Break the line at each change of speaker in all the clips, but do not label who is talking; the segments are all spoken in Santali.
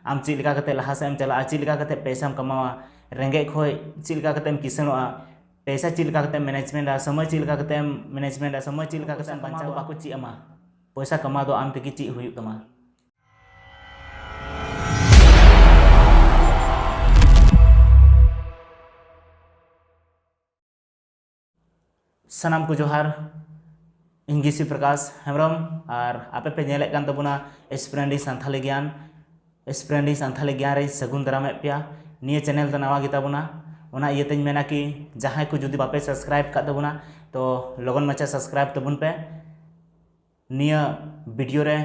ᱟᱢ ᱪᱮᱫ ᱞᱮᱠᱟ ᱠᱟᱛᱮ ᱞᱟᱦᱟ ᱥᱮᱫ ᱮᱢ ᱪᱟᱞᱟᱜᱼᱟ ᱪᱮᱫ ᱞᱮᱠᱟ ᱠᱟᱛᱮ ᱯᱚᱭᱥᱟᱢ ᱠᱟᱢᱟᱣᱟ ᱨᱮᱸᱜᱮᱡ ᱠᱷᱚᱱ ᱪᱮᱫ ᱞᱮᱠᱟ ᱠᱟᱛᱮᱢ ᱠᱤᱥᱟᱹᱬᱚᱜᱼᱟ ᱯᱚᱭᱥᱟ ᱪᱮᱫ ᱞᱮᱠᱟ ᱠᱟᱛᱮᱢ ᱢᱮᱱᱮᱡᱽᱢᱮᱱᱴᱟ ᱥᱚᱢᱚᱭ ᱪᱮᱫ ᱞᱮᱠᱟ ᱠᱟᱛᱮᱢ ᱢᱮᱱᱮᱡᱽᱢᱮᱱᱴᱟ ᱥᱚᱢᱚᱭ ᱪᱮᱫ ᱞᱮᱠᱟ ᱠᱟᱛᱮᱢ ᱵᱟᱧᱪᱟᱣᱟ ᱵᱟᱠᱚ ᱪᱮᱫ ᱟᱢᱟ ᱯᱚᱭᱥᱟ ᱠᱟᱢᱟᱣ ᱫᱚ ᱟᱢ ᱛᱮᱜᱮ ᱪᱮᱫ ᱦᱩᱭᱩᱜ ᱛᱟᱢᱟ ᱥᱟᱱᱟᱢ ᱠᱚ ᱡᱚᱦᱟᱨ ᱤᱧ ᱜᱤᱥᱤ ᱯᱨᱚᱠᱟᱥ ᱦᱮᱢᱵᱨᱚᱢ ᱟᱨ ᱟᱯᱮ ᱯᱮ ᱧᱮᱞᱮᱫ ᱠᱟᱱ ᱛᱟᱵᱚᱱᱟ ᱮᱥᱯᱨᱮᱱᱰᱤ ᱥᱟᱱᱛᱷᱟᱞᱤ ᱜᱮᱭᱟᱱ ᱮᱥᱯᱨᱮᱱᱰᱤ ᱥᱟᱱᱛᱷᱟᱞᱤ ᱜᱮᱭᱟᱱ ᱨᱮ ᱥᱟᱹᱜᱩᱱ ᱫᱟᱨᱟᱢᱮᱫ ᱯᱮᱭᱟ ᱱᱤᱭᱟᱹ ᱪᱮᱱᱮᱞ ᱫᱚ ᱱᱟᱣᱟ ᱜᱮᱛᱟᱵᱚᱱᱟ ᱚᱱᱟ ᱤᱭᱟᱹᱛᱮᱧ ᱢᱮᱱᱟ ᱠᱤ ᱡᱟᱦᱟᱸᱭ ᱠᱚ ᱡᱩᱫᱤ ᱵᱟᱯᱮ ᱥᱟᱵᱥᱠᱨᱟᱭᱤᱵ ᱠᱟᱜ ᱛᱟᱵᱚᱱᱟ ᱛᱚ ᱞᱚᱜᱚᱱ ᱢᱟᱪᱷᱟ ᱥᱟᱵᱥᱠᱨᱟᱭᱤᱵ ᱛᱟᱵᱚᱱ ᱯᱮ ᱱᱤᱭᱟᱹ ᱵᱷᱤᱰᱤᱭᱳ ᱨᱮ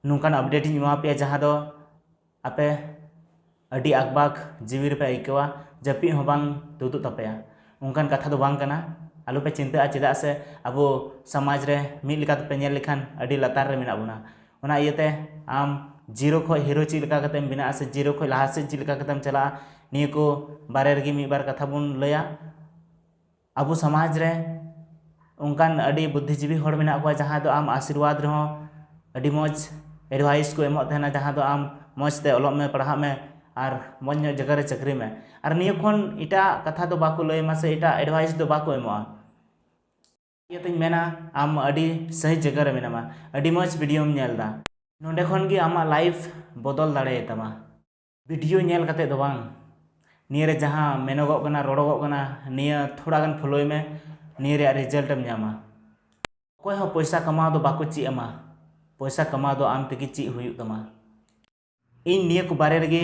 ᱱᱚᱝᱠᱟᱱ ᱟᱯᱰᱮᱴ ᱤᱧ ᱮᱢᱟ ᱯᱮᱭᱟ ᱡᱟᱦᱟᱸ ᱫᱚ ᱟᱯᱮ ᱟᱹᱰᱤ ᱟᱠᱵᱟᱠ ᱡᱤᱣᱤ ᱨᱮᱯᱮ ᱟᱹᱭᱠᱟᱹᱣᱟ ᱡᱟᱹᱯᱤᱫ ᱦᱚᱸ ᱵᱟᱝ ᱛᱩᱫᱩᱜ ᱛᱟᱯᱮᱭᱟ ᱚᱱᱠᱟᱱ ᱠᱟᱛᱷᱟ ᱫᱚ ᱵᱟᱝ ᱠᱟᱱᱟ ᱟᱞᱚ ᱯᱮ ᱪᱤᱱᱛᱟᱹᱜᱼᱟ ᱪᱮᱫᱟᱜ ᱥᱮ ᱟᱵᱚ ᱥᱚᱢᱟᱡᱽ ᱨᱮ ᱢᱤᱫ ᱞᱮᱠᱟ ᱛᱮᱯᱮ ᱧᱮᱞ ᱞᱮᱠᱷᱟᱱ ᱟᱹᱰᱤ ᱞᱟᱛᱟᱨ ᱨᱮ ᱢᱮᱱᱟᱜ ᱵᱚᱱᱟ ᱚᱱᱟ ᱤᱭᱟᱹᱛᱮ ᱟᱢ ᱡᱤᱨᱳ ᱠᱷᱚᱱ ᱦᱤᱨᱳ ᱪᱮᱫ ᱞᱮᱠᱟ ᱠᱟᱛᱮᱢ ᱵᱮᱱᱟᱜᱼᱟ ᱥᱮ ᱡᱤᱨᱳ ᱠᱷᱚᱱ ᱞᱟᱦᱟ ᱥᱮᱫ ᱪᱮᱫ ᱞᱮᱠᱟ ᱠᱟᱛᱮᱢ ᱪᱟᱞᱟᱜᱼᱟ ᱱᱤᱭᱟᱹ ᱠᱚ ᱵᱟᱨᱮ ᱨᱮᱜᱮ ᱢᱤᱫ ᱵᱟᱨ ᱠᱟᱛᱷᱟ ᱵᱚᱱ ᱞᱟᱹᱭᱟ ᱟᱵᱚ ᱥᱚᱢᱟᱡᱽ ᱨᱮ ᱚᱱᱠᱟᱱ ᱟᱹᱰᱤ ᱵᱩᱫᱽᱫᱷᱤᱡᱤᱵᱤ ᱦᱚᱲ ᱢᱮᱱᱟᱜ ᱠᱚᱣᱟ ᱡᱟᱦᱟᱸᱭ ᱫᱚ ᱟᱢ ᱟᱥᱤᱨᱵᱟᱫᱽ ᱨᱮᱦᱚᱸ ᱟᱹᱰᱤ ᱢᱚᱡᱽ ᱮᱰᱵᱷᱟᱭᱤᱥ ᱠᱚ ᱮᱢᱚᱜ ᱛᱟᱦᱮᱱᱟ ᱡᱟᱦᱟᱸ ᱫᱚ ᱟᱢ ᱢᱚᱡᱽ ᱛᱮ ᱚᱞᱚᱜ ᱢᱮ ᱯᱟᱲᱦᱟᱜ ᱢᱮ ᱟᱨ ᱢᱚᱡᱽ ᱧᱚᱜ ᱡᱟᱭᱜᱟ ᱨᱮ ᱪᱟᱹᱠᱨᱤ ᱢᱮ ᱟᱨ ᱱᱤᱭᱟᱹ ᱠᱷᱚᱱ ᱮᱴᱟᱜ ᱠᱟᱛᱷᱟ ᱫᱚ ᱵᱟᱠᱚ ᱞᱟᱹᱭ ᱟᱢᱟ ᱥᱮ ᱮᱴᱟᱜ ᱮᱰᱵᱷᱟᱭᱤᱥ ᱫᱚ ᱵᱟᱠᱚ ᱮᱢᱚᱜᱼᱟ ᱱᱤᱭᱟᱹ ᱛᱤᱧ ᱢᱮᱱᱟ ᱟᱢ ᱟᱹᱰᱤ ᱥᱟᱹᱦᱤ ᱡᱟᱭᱜᱟ ᱨᱮ ᱢᱮᱱᱟᱢᱟ ᱟᱹᱰᱤ ᱢᱚᱡᱽ ᱵᱷᱤᱰᱤᱭᱳᱢ ᱧᱮᱞ ᱮᱫᱟ ᱱᱚᱰᱮ ᱠᱷᱚᱱ ᱜᱮ ᱟᱢᱟᱜ ᱞᱟᱭᱤᱯᱷ ᱵᱚᱫᱚᱞ ᱫᱟᱲᱮᱭᱟᱛᱟᱢᱟ ᱵᱷᱤᱰᱤᱭᱳ ᱧᱮᱞ ᱠᱟᱛᱮᱫ ᱫᱚ ᱵᱟᱝ ᱱᱤᱭᱟᱹ ᱨᱮ ᱡᱟᱦᱟᱸ ᱢᱮᱱᱚᱜᱚᱜ ᱠᱟᱱᱟ ᱨᱚᱲᱚᱜᱚᱜ ᱠᱟᱱᱟ ᱱᱤᱭᱟᱹ ᱛᱷᱚᱲᱟ ᱜᱟᱱ ᱯᱷᱳᱞᱳᱭ ᱢᱮ ᱱᱤᱭᱟᱹ ᱨᱮᱭᱟᱜ ᱨᱮᱡᱟᱞᱴ ᱮᱢ ᱧᱟᱢᱟ ᱚᱠᱚᱭ ᱦᱚᱸ ᱯᱚᱭᱥᱟ ᱠᱟᱢᱟᱣ ᱫᱚ ᱵᱟᱠᱚ ᱪᱮᱫ ᱟᱢᱟ ᱯᱚᱭᱥᱟ ᱠᱟᱢᱟᱣ ᱫᱚ ᱟᱢ ᱛᱮᱜᱮ ᱪᱮᱫ ᱦᱩᱭᱩᱜ ᱛᱟᱢᱟ ᱤᱧ ᱱᱤᱭᱟᱹ ᱠᱚ ᱵᱟᱨᱮ ᱨᱮᱜᱮ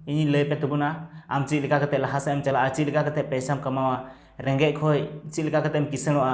ᱤᱧᱤᱧ ᱞᱟᱹᱭ ᱯᱮ ᱛᱟᱵᱚᱱᱟ ᱟᱢ ᱪᱮᱫ ᱞᱮᱠᱟ ᱠᱟᱛᱮᱫ ᱞᱟᱦᱟ ᱥᱮᱫ ᱮᱢ ᱪᱟᱞᱟᱜᱼᱟ ᱪᱮᱫ ᱞᱮᱠᱟ ᱠᱟᱛᱮᱫ ᱯᱚᱭᱥᱟᱢ ᱠᱟᱢᱟᱣᱟ ᱨᱮᱸᱜᱮᱡ ᱠᱷᱚᱱ ᱪᱮᱫ ᱞᱮᱠᱟ ᱠᱟᱛᱮᱫ ᱮᱢ ᱠᱤᱥᱟᱹᱬᱚᱜᱼᱟ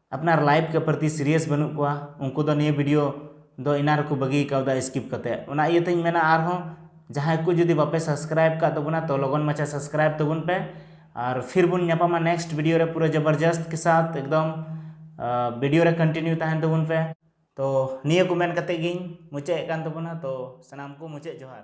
ᱟᱯᱱᱟᱨ ᱞᱟᱭᱤᱯᱷ ᱠᱮ ᱯᱨᱚᱛᱤ ᱥᱤᱨᱤᱭᱟᱥ ᱵᱟᱹᱱᱩᱜ ᱠᱚᱣᱟ ᱩᱱᱠᱩ ᱫᱚ ᱱᱤᱭᱟᱹ ᱵᱷᱤᱰᱤᱭᱳ ᱫᱚ ᱮᱱᱟᱝ ᱨᱮᱠᱚ ᱵᱟᱹᱜᱤ ᱠᱟᱣᱫᱟ ᱥᱠᱤᱯ ᱠᱟᱛᱮ ᱚᱱᱟ ᱤᱭᱟᱹ ᱛᱮᱧ ᱢᱮᱱᱟ ᱟᱨᱦᱚᱸ ᱡᱟᱦᱟᱸᱭ ᱠᱚ ᱡᱩᱫᱤ ᱵᱟᱯᱮ ᱥᱟᱵᱥᱠᱨᱟᱭᱤᱵ ᱠᱟᱜ ᱛᱟᱵᱚᱱᱟ ᱛᱚ ᱞᱚᱜᱚᱱ ᱢᱟᱪᱷᱟ ᱥᱟᱵᱥᱠᱨᱟᱭᱤᱵ ᱛᱟᱵᱚᱱ ᱯᱮ ᱟᱨ ᱯᱷᱤᱨ ᱵᱚᱱ ᱧᱟᱯᱟᱢᱟ ᱱᱮᱠᱥᱴ ᱵᱷᱤᱰᱤᱭᱳ ᱨᱮ ᱯᱩᱨᱟᱹ ᱡᱚᱵᱚᱨᱡᱚᱥᱛ ᱠᱮ ᱥᱟᱛᱷ ᱮᱠᱫᱚᱢ ᱵᱷᱤᱰᱤᱭᱳ ᱨᱮ ᱠᱚᱱᱴᱤᱱᱤᱭᱩ ᱛᱟᱦᱮᱱ ᱛᱟᱵᱚᱱ ᱯᱮ ᱛᱚ ᱱᱤᱭᱟᱹ ᱠᱚ ᱢᱮᱱ ᱠᱟᱛᱮ ᱜᱤᱧ ᱢᱩᱪᱟᱹᱫ ᱮᱫ ᱠᱟᱱ ᱛᱟᱵᱚᱱᱟ ᱛᱚ ᱥᱟᱱᱟᱢ ᱠᱚ ᱢᱩᱪᱟᱹᱫ ᱡᱚᱦᱟᱨ